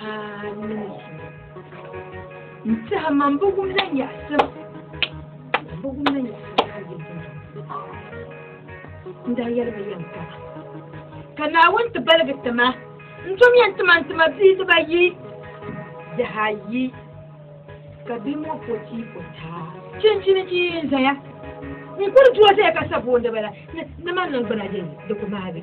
Amin. N-tiɛha man bi wum la nyaɣisim. Man bi wum la nyaɣisim ka yɛli din N daa yɛli ba yɛm kama. Ka Naawuni ti baligi ti ma, n tom yɛn ti ma n ti ma bia dibayi, bihi ayi, ka bia ŋɔ po ti po taa. Chinchini ti yi n-zaya. N kuli duozaya ka sa booni bala ni man niŋ gbuna yɛli di ku maagi.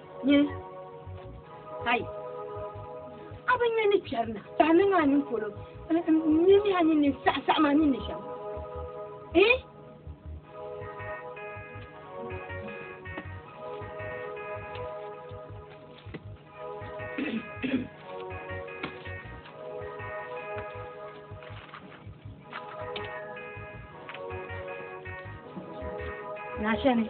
Nye, Hai, a bi nya ni kpɛri na, ka a niŋ a nini polo n-mi mi a nini ni saɣi saɣim a nini ni shɛm? Ii? Naashani.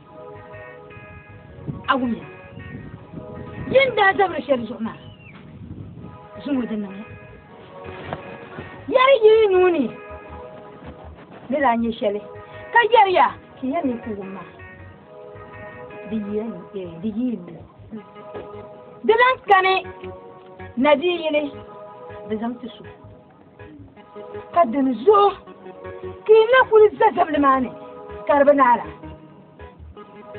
Agumiya. Yi ni daa zabiri shɛli zuɣu maa, zuŋɔ di niŋya. Yɛri yi yi nuu ni ni daa nyɛ shɛli, ka yɛriya ka yɛn mi ku wum maa. Di yi yi nuu. Di lan kani na di yi yili, di zaŋ ti so. Ka dini zuɣu ka yi na kuli za zabili maa ni ka di bi naala.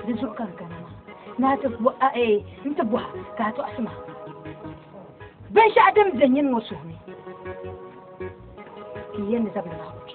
Di zuɣu ka di kana maa ni a ti n ti bɔha ka a tɔɣisi ma binshɛɣu din be nyini ŋɔ suhuni ka yi yɛn ni zabili maa kuli kpe.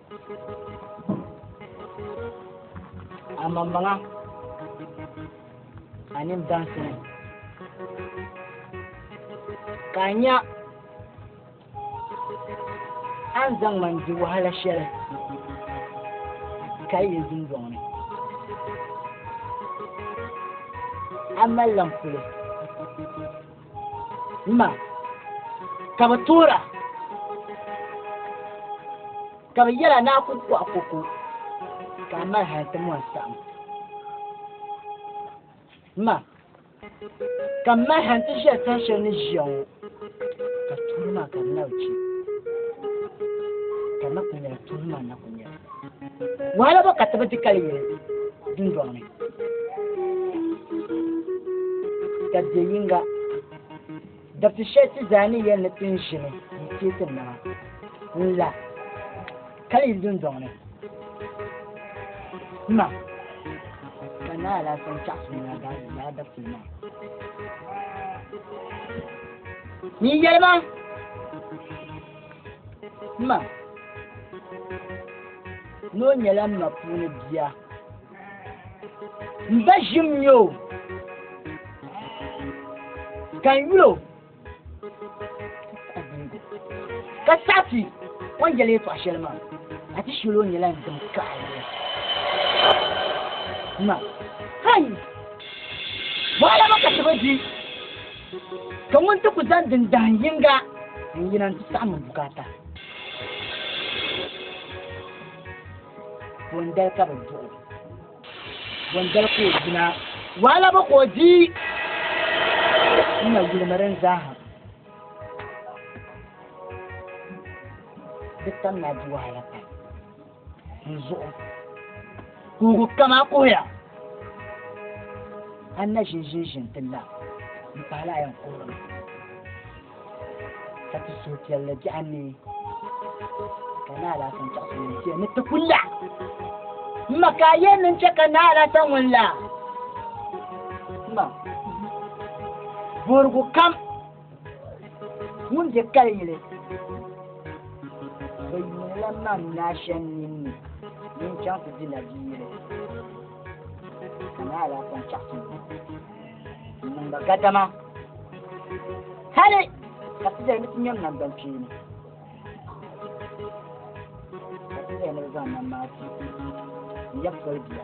a mammaŋa a nim dansini ka a nya a ni zaŋ man di wahala shɛli ka yi dundɔŋ ni a mali lan kuli ma ka bi toora ka bi yɛra ni a ku kɔɣi koko ka a mali hali ti mɔri saɣim ma ka m mali hali ti ʒiya saha shɛli ni ʒiya ŋɔ ka tuuli maa ka di na bi chɛ ka na ku nyɛla tuuli maa na ku nyɛla Wahala bɔ ka ti bi di kali yuli dundɔŋ ni? Dabiɛ yinga, dabiti shɛli ti zaa ni yɛli ni ti ni ʒini n-teei ti nama n-la kali yuli dundɔŋ ni. Dima ka Naa Alaafee ni chaɣisi nuu na daai lala dabiti maa. Nyin yɛli ma. Ma ni o nyɛla m ma puuni bia m ba ʒim nyɛ o ka n yuli o ka saɣati o ni yɛli yɛtɔɣa shɛli maa a ti shili o nyɛla n dim kaɣaya ma kai mɔɣala ma ka ti bi di Ka ŋun ti ku zaŋ din dahin yiŋga n yina n ti saɣim n bukaata. Bondali ka bi duɣi. Bondali ka o yina. Wahala bi ka o di. N na yulimi din zaaha. Di tam ni a di wahala pam. n zuɣu kuugu kam a kuhiya a na ʒin ʒin ʒin ti la n pahala a yɛn kuhirimi ka ti suhupiɛlli biɛɣu ni ka na alasan chaɣisi ŋun tiɛ ni ti ku la n ma ka a yɛn niŋ chɛ ka na alasan ŋun la ma borigu kam ŋun bɛ kali yili bi yuunila mam naashan ninni din chaŋ ti di la bi yili ka na ala kɔn chaɣasim n niŋ ba gadama hali ka ti zali ni ti nyɛm nam ban kpeeni ka ti zali ni bi zaŋ nam maa ti n yɛb poli bia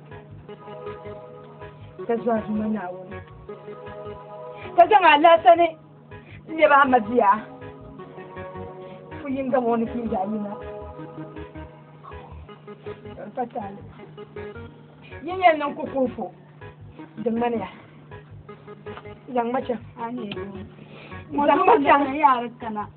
ka zɔn zuma naawuni ka zaŋ alaasa ni lɛbi ahmadiya fu yinga ŋɔ ni pii zaɣ yina ka taali yi yɛn niŋ ku kuufu di ŋmaniya zaŋ ma chaŋ zaŋ ma chaŋ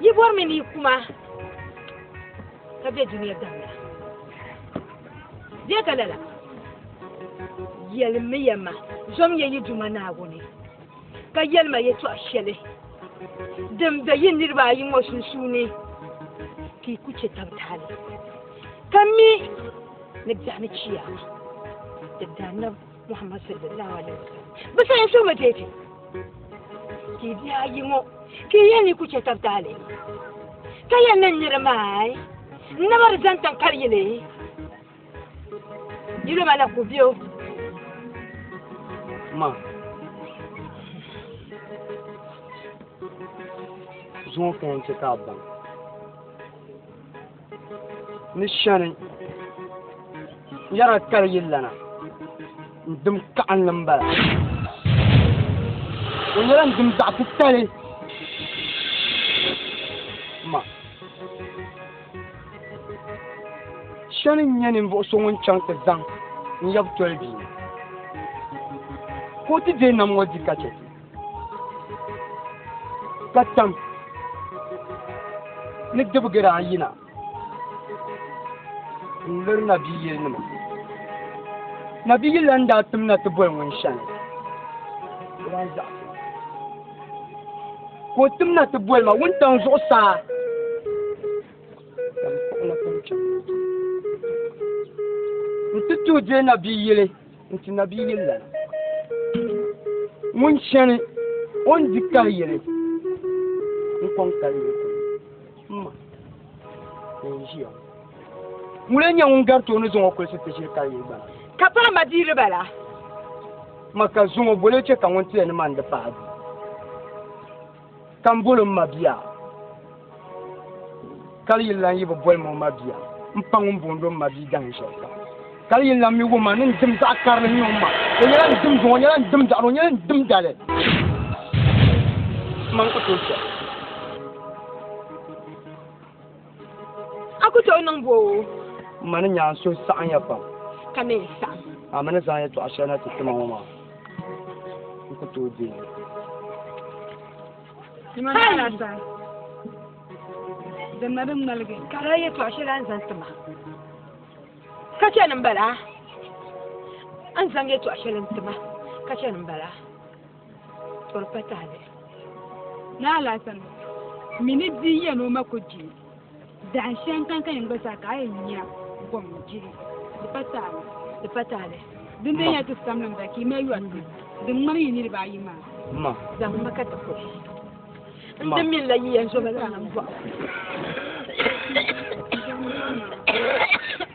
Yi bɔri mi ni yi kuma ka bɛ dunia damina. Bɛ ka lala yɛlimiya ma zɔmiya yi Duuma Naawuni ka yɛlima yɛtɔɣ shɛli din be yi niriba ayi ŋɔ sunsuuni ka yi ku chɛ tab tahili ka mi ni biɛɣuni chiyaama di daanna Muhammad sallallahu alaihi wasallam bi sayin suhimi deeti ka i bihi ayi ŋɔ ka i yɛn ni ku chɛ tab taali ka yɛn ni niri maai n naba di zaŋ tiŋ kari yili yili ma la ku biyo ma zuŋɔ ka yɛn chɛ ka a baŋ ni shɛni yɛra kali yi lana n dim kaɣinli n bala o nyɛla n dim zaɣ titali ma shɛni n nyɛ ninvuɣu so ŋun chaŋ ti zaŋ n yɛbu toli bia ka o ti deei nam ŋɔ di ka chɛ ka tam ni dibigiri ayina n liri nabiyili nima nabiyili n daa tim na ti boli ŋun shɛli ka o tim na ti boli ma wuntaŋ zuɣusaa n ti tuhi dee nabiyili n ti nabi yili lana ŋun chani o ni di kahi yili n kɔŋ kali yili kuli ma ka n ʒiya ŋun lee nyɛ ŋun gari tooni zaŋ o kulisi ti ʒiri kali yili gbana ka piri ma dii riba la ma ka zuŋo bole chɛ ka ŋun tiya ni ma n di paɣa du Ka m bol o m ma bia, ka di yɛn lan yi bi bol ma o ma bia, m pa ŋun boondi o m ma bia dahin shɛli kam. Ka di yɛn lan mi o ma ni n dim zaɣ karili n-niŋ o ma. O nyɛla n dimzuŋɔ, o nyɛla n dimdaɣiri, o nyɛla n dimdali. M ma n ku tooi chɛ. A ku tooi niŋ boo? M ma ni nyaanso saɣinya pam. Ka mi saɣim. A mi ni zaŋ yɛtɔɣ shɛli na ti ti ma ŋɔ maa, n ku tooi deei li. Dama ni alaasa din na din ŋmaligi ka di yɛtɔɣ shɛli a ni zaŋ ti ma, ka chani m-bala. A ni zaŋ yɛtɔɣ shɛli n-ti ma, ka chani m-bala. Tɔrpa tahili ni alasan mi ni di ya ni o ma ku di dahin shɛŋ kan ka yɛn gba zaa ka a yɛn nya gom jihi di pa tahili di pa tahili din bɛ nya ti samlim ba ki ma yɔri ti din ŋmani yi niriba ayi maa zaŋ ma ka ti ku n ti min la yi yɛn zoma zaŋ bɔɣu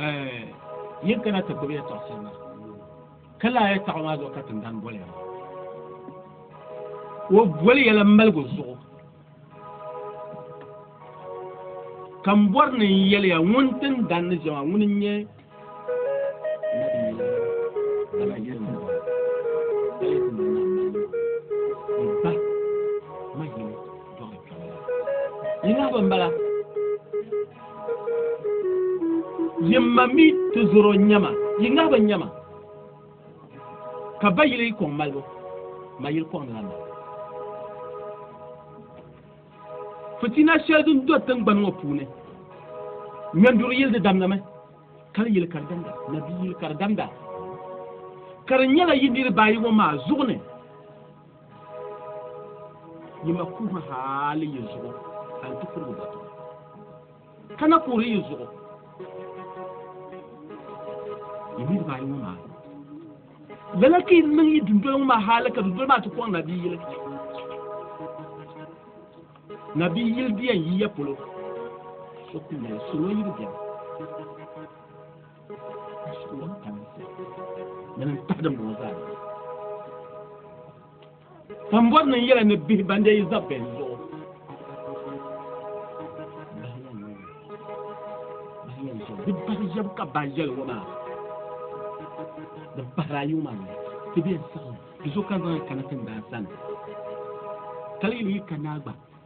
Eh, yin kana ti gbubi yɛtɔɣ shɛli na ka laa yɛtɔɣ maa zuɣu ka tindan boli ya o boli yɛla maligu zuɣu ka m bɔri ni n yɛliya ŋun tin dan ni jɛma ŋuni n nyɛ yinahibu n bala yimma mi ti zoro nyɛma yinahibu nyɛma ka ba yili kɔŋ malibu ma yili kɔŋ nila malibu fitina shɛli din do tingbani ŋɔ puuni nyanduri yili di damdami kali yili ka di damda nabi yili ka di damda ka di nyɛla yi niriba ayi ŋɔ maa zuɣu ni yi ma kuhi haali yi zuɣu a ni ti kurigu dɔtɔ Ka na kuhiri yi zuɣu yi niriba ayi ŋɔ maa lala ka yi niŋ yi dundoli ŋɔ maa hali ka dundoli maa ti kɔŋ nabiyili nabiyili biɛn yiya polo so ku mali salo yi bi biɛni salo tam ni n taɣidim ŋɔ zaa Sambɔri ni yɛla ni bihi ban dee yi za bɛn zuɣu. Di bahi yɛbu ka bahi yɛli ŋɔ maa. Di bahiri a yuma ni ti bɛ saɣim. Di so ka zaŋ kana ti ndaa sani. Kali yi ka naa gba.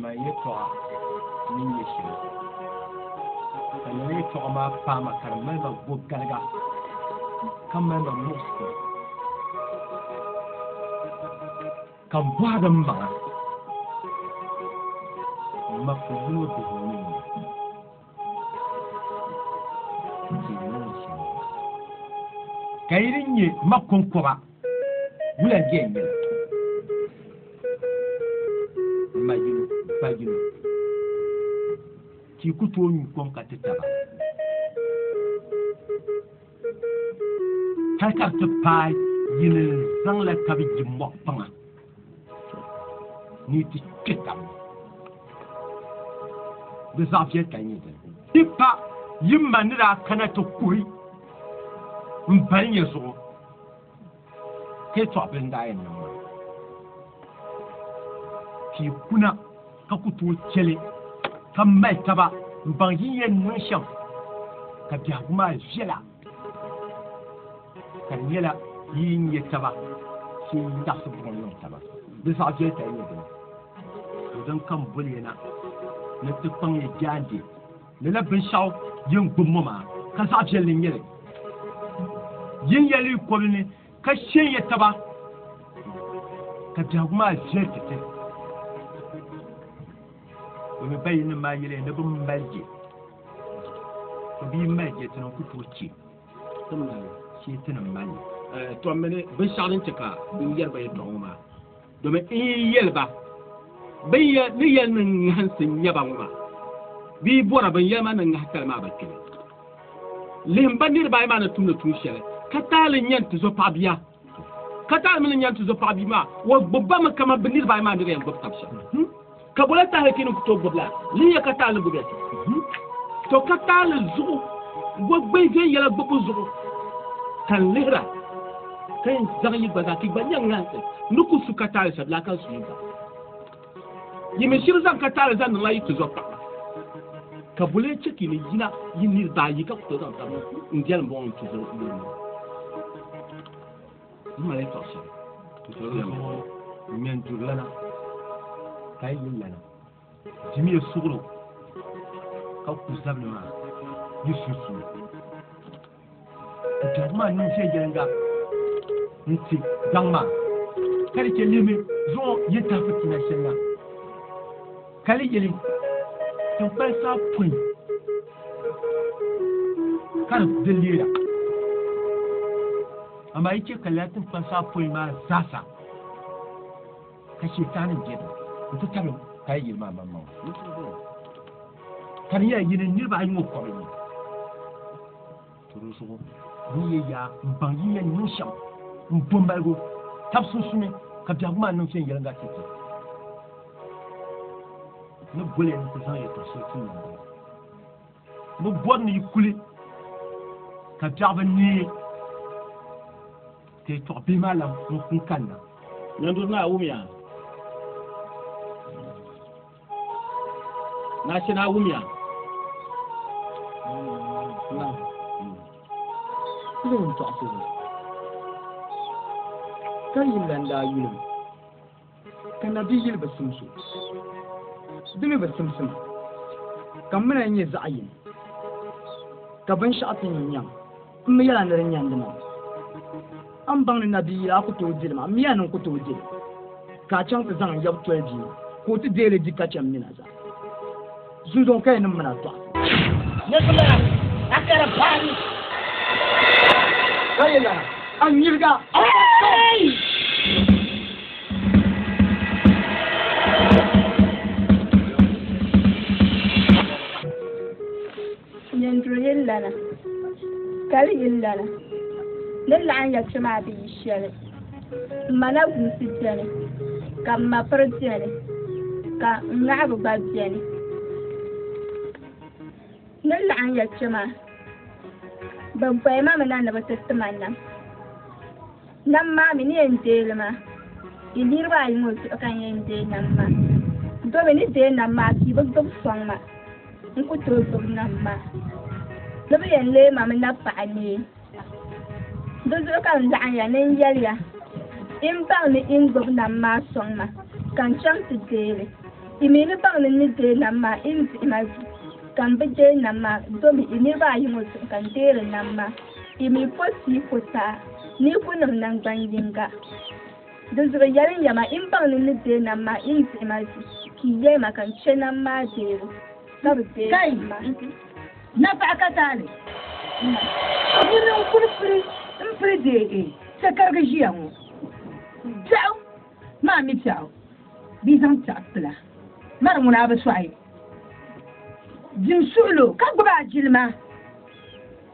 Ma yɛtɔɣa mini yɛ shɛli ka lala yɛtɔɣa maa paai ma ka di mali ma bo galiga ka mali ma muɣisigu ka m bɔhi din maŋa ma ku yino bihi ka yi din nyɛ ma kɔŋkɔba wula jɛ n yɛla ma yino ba yino ti ku tooi nyu kom ka ti taba Hali ka di ti paai yi ni zaŋla tabi yi mɔɣu kpaŋa ni yi ti kpe taba di zaɣ viɛl ka nyɛ dini. Di pa yi ma ni daa kana ti kuhi m balinya zuɣu. Ka yi tɔɣi bilindaa yɛn niŋ maa, ka yi kuna ka ku tooi chɛ li ka mali taba m-baŋ yi ni yɛn niŋ shɛm ka biɛhigu maa viɛla, ka di nyɛla yi yi nya taba shee yi taɣisi buɣim niŋ taba. Di zaɣ viɛli ka yi nya dini, to din kam boli ya na ni ti kpaŋ ya jaande. Lala binshɛɣu yin gbubi ŋɔ maa, ka zaɣ viɛlli n-nyɛ li. Yin ya li yi kɔbili ni, ka shɛn ya taba, ka biɛhigu maa viɛli titali. Domin ba yinim maa yɛliya ni bɛ mali je, to bɛ yi mali je, ti ni n-ku tooi che shee ti ni mali li. Tɔm mini binshɛɣu din chɛ ka bɛ yɛri ba yɛtɔɣa ŋɔ maa. Domin n yi yɛli ba, bin ya ni yɛli ni ŋahinsi n-nyɛ ba ŋɔ maa, bɛ yi bɔra bin yɛli ma ni ŋahitali maa ba kpimi. Lihim ba niriba ayi maa ni tumdi tuun shɛli, ka taali nya n-tizɔ paɣ bia, ka taali mi ni nya n-tizɔ paɣ bia maa, o gbibi ba mi kaman bɛ niriba ayi maa ni di yɛn gbibi tab shɛm. ka bole tahi ti ni to gbubila ni ya ka taali gbubi ti to ka taali zuɣu gbubi gbɛ yɛla gbubu zuɣu ka n lihira ka n zaŋ yi gba zaa ti gba nyɛ ŋansi ni ku su ka taali sabila ka su yi gba yi mi shiri zaŋ ka taali zaŋ niŋla yi ti zuɣu paɣa ka bole chɛ ka yi ni yina yi niriba ayi ka ku to zaŋ tabi n jɛli bɔŋ ti zuɣu Mali tɔɣisiri tutorial ŋɔ ŋmɛn duri lana ka yi yuli lana jimiya suɣuro ka ku zabili maa yi sunsuuni ka biɛhigu maa niŋ viɛnyɛliŋga n ti daŋ maa ka di chɛ lihimi zuɣu yi tahi fitina shɛŋa Ka di yili tinkpal saa pun ka di di leera. Amaa yi chɛ ka lala tinkpal saa pun maa zaasa ka Shɛtaani bɛ di nti tabili ka di yili maa maŋmaŋa. Ka di nyɛla yi ni niriba ayi ŋɔ kɔbili ni. Toro zuɣu din yi yaa m-baŋ yi yɛn niŋ shɛm n-do maligu tab sunsuuni, ka biɛhigu maa niŋ viɛnyɛliŋga tɛbitɛbi ni goli ni ti zaŋ yɛtɔɣ shɛli ti niŋdi li. Bɛ bɔri ni yi kuli ka biɛɣu bi neei ka yɛtɔɣ bihi maa lan n-kanna. Nanduri Naawumia. Nashi na wumiya. Kulim tɔɣisi ni. Ka yi lan daa yulim, ka na bi yili bi simso. Dimi bi simsima, ka mina nyɛ zaɣ yini, ka binshɛɣu ti nyi nyaŋ. M mi yɛla ni di nyandi ma. A ni baŋ ni nabiiyila a ku tooi dili ma, m miya ni n ku tooi dili, ka a chaŋ ti zaŋ n yab toli bia maa, ka o ti deei li di ka chɛ m mi na zaa. Zunzuŋɔ ka yi niŋ min a dɔɣite. Niriba maa a kara paa ni ka yi lana, a nyiliga a ni daa chaŋ. Nyanduri yi lana, kali yi lana, ni laɣin ya kpe maa bi yi shɛli. M ma na gumsi beni, ka m ma piri beni, ka n ŋahigu gba beni. Ni laɣin ya kpe maa, bɛ bɔyima mi na ni bɛ ti ti ma nam. Nam maa mi ni yɛn deei li maa, di niriba ayi ŋɔ zuɣu ka n yɛn deei nam maa. Domi ni deei nam maa pii bi gbibi sɔŋ ma, n ku tooi gbibi nam maa. Ni bi yɛn leei ma mi na paɣa nee. Di zuɣu ka n laɣim ya ni n yɛli ya, yi ni baŋ ni yi ni gbibi nam maa sɔŋ ma, ka n chaŋ ti deei li. Yi mi ni baŋ ni n ni deei nam maa, yi ni dihi ma vi, ka m bi deei nam maa, domi yi niriba ayi ŋɔ zuɣu ka n deeri nam maa. Yi mi po sii ko saa ni ku niŋ naŋgban yiŋga. Di zuɣu yɛli n yɛma, yi ni baŋ ni n ni deei nam maa, yi ni dihi ma ʒi, ka yi yɛli ma ka n chɛ nam maa deebu, ka bi deei ma. Na paɣa ka taali na, yi ni n kuli pili m pili deei chɛkarigi ʒiya ŋɔ, piɛɣu maa mi piɛɣu, bee zaŋ piɛɣu kpila mari ŋuna a bi sɔɣi jim suɣilo ka gbubi a jilima.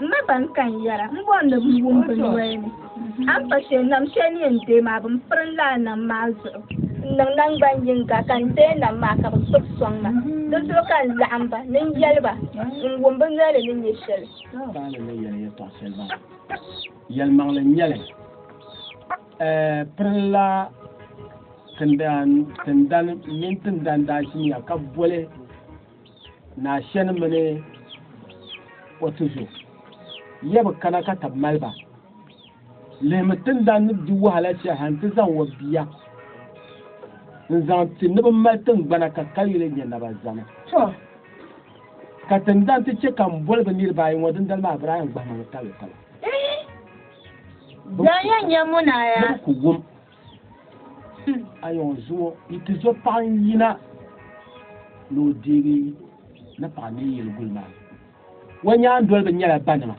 M ba ban ka n yɛra m bɔri ni bɛ wum bɛ noli ni a ni pa shɛli nam shɛli ni yɛn deei maa bɛ ni piri n lala nam maa zuɣu n niŋ naŋgban yiŋga ka n deei nam maa ka bɛ gbubi sɔŋ ma di zuɣu ka n laɣim ba ni n yɛli ba n wum bɛ noli ni nyɛ shɛli. Paanu ni yɛli yɛtɔɣ shɛli baŋ yɛlimaŋli n-nyɛli pirinla tindani mini tindani daa ʒimiya ka boli naa shɛni mini o tuzo ya bi kana ka tabi mali ba lihimi tindan ni di wahala shɛli ha nti zaŋ o bia n-zaŋ ti ni bi mali tingbana ka kayuli nyɛ naba zani ka tindan ti chɛ ka m boli bi niriba ayi ŋɔ dindali maa birahi n gbahima ni kalo kalo Zaŋya nyɛ munaya. ayɔŋ zuo yi ti zo paɣa n yina ni o deegi ni paɣa ni yili guli maa o nyaandoliba nyɛla banima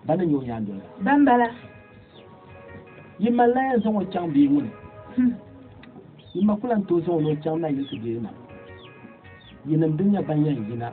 ba ni nyɛ o nyaandoliba ban bala yi ma la yɛn zaŋ o chaŋ bia ŋuni yi ma kula n tooi zaŋ o ni o chaŋ na yili ti deegi na yinim din nyɛ ban yɛn yina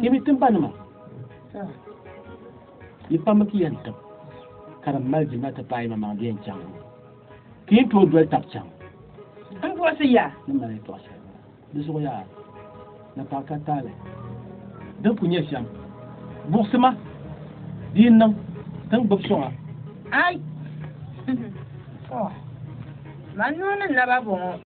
Ti mi timbanima ni pambu ti yɛn tib ka di mali di na ti paai maŋmaŋ di yɛn chaŋ ti yɛn tooi doli tab chaŋ n puɣisi ya ni mali tɔɣ shɛli di zuɣu yaa ni paɣ ka taali din ku nyɛ shɛm buɣisi ma di yi niŋ ti ni gbubi sɔŋa ai man nuu ni naba bɔŋɔ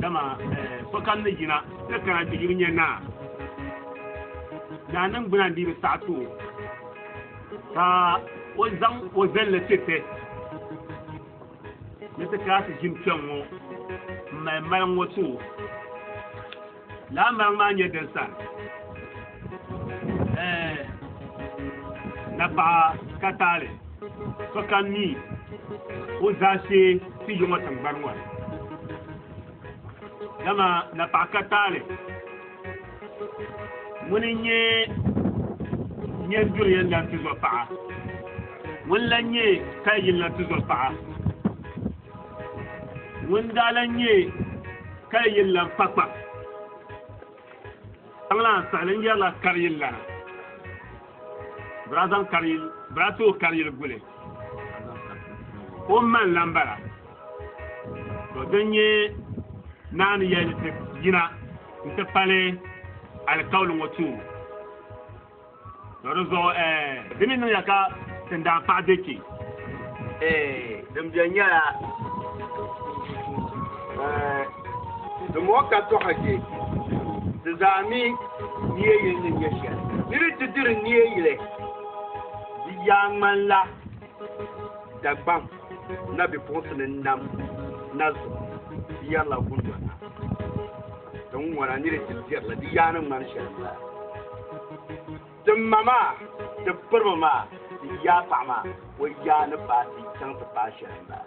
Dama sokam ni yina ti kana ti yuli nyɛ naa, naa ningbuna n-dii bi saɣi ti o, ka o zaŋ o zilli ti ti ni ti kana ti ʒini kpɛŋ ŋɔ m-mali mali ŋɔ ti o. Laambaŋ maa nyɛ din sa napaɣa ka taali sokam mi o zaashee ti yi ŋɔ tiŋgbani ŋɔ ni. Dama napaɣa ka taali ŋuni n-nyɛ nyɛn duri yɛn lan ti zɔ paɣa, ŋuni lan nyɛ kali yini lan ti zɔ paɣa. ŋun daa lan nyɛ kali yili lan kpakpa tiŋ lan saɣali n yɛrila kari yili lana birazaŋ kari yili bira too kari yili guli o man lan bala to din nyɛ naani yɛli yina n ti pali alikauli ŋɔ tuubu To di zuɣu eh, di mi niŋya ka tin daa paɣi be kpe. Eh, din beni nyɛla eh, di mɔɣu ka tɔɣa je, di zaa mi nia yili ni nyɛ shɛli. Di ni ti diri nia yili di yaa ŋmanila. Dagbaŋ na bipuɣinsi ni nam na zuɣu di yɛrila gundona. Tiŋ'ŋɔna ni di ti dirila di yaa ni ŋmani shɛli zaa. Ti ma maa, ti piriba maa, ti yaa paɣa maa, o yaa ni paai ti chaŋ ti paai shɛli m-bala.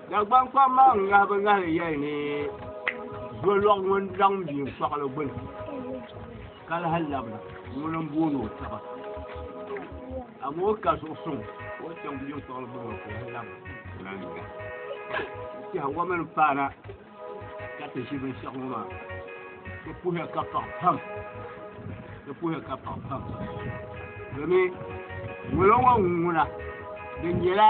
Dagbaŋ kpam maa ŋahibu ŋahili yɛli ni zolɔɣu ŋun laŋ mii kpaɣili gbuni ka lahi labina ŋuni n booni o taba amaa o ka zuɣu suŋ o chaŋ mii kpaɣili gbuni o ka lahi labina tiɛha ŋɔ mini paana ka ti ʒi binshɛɣu ŋɔ maa ti puhiya ka paɣa pam ti puhiya ka paɣa pam domin ŋolo ŋɔ ŋuna di nyɛla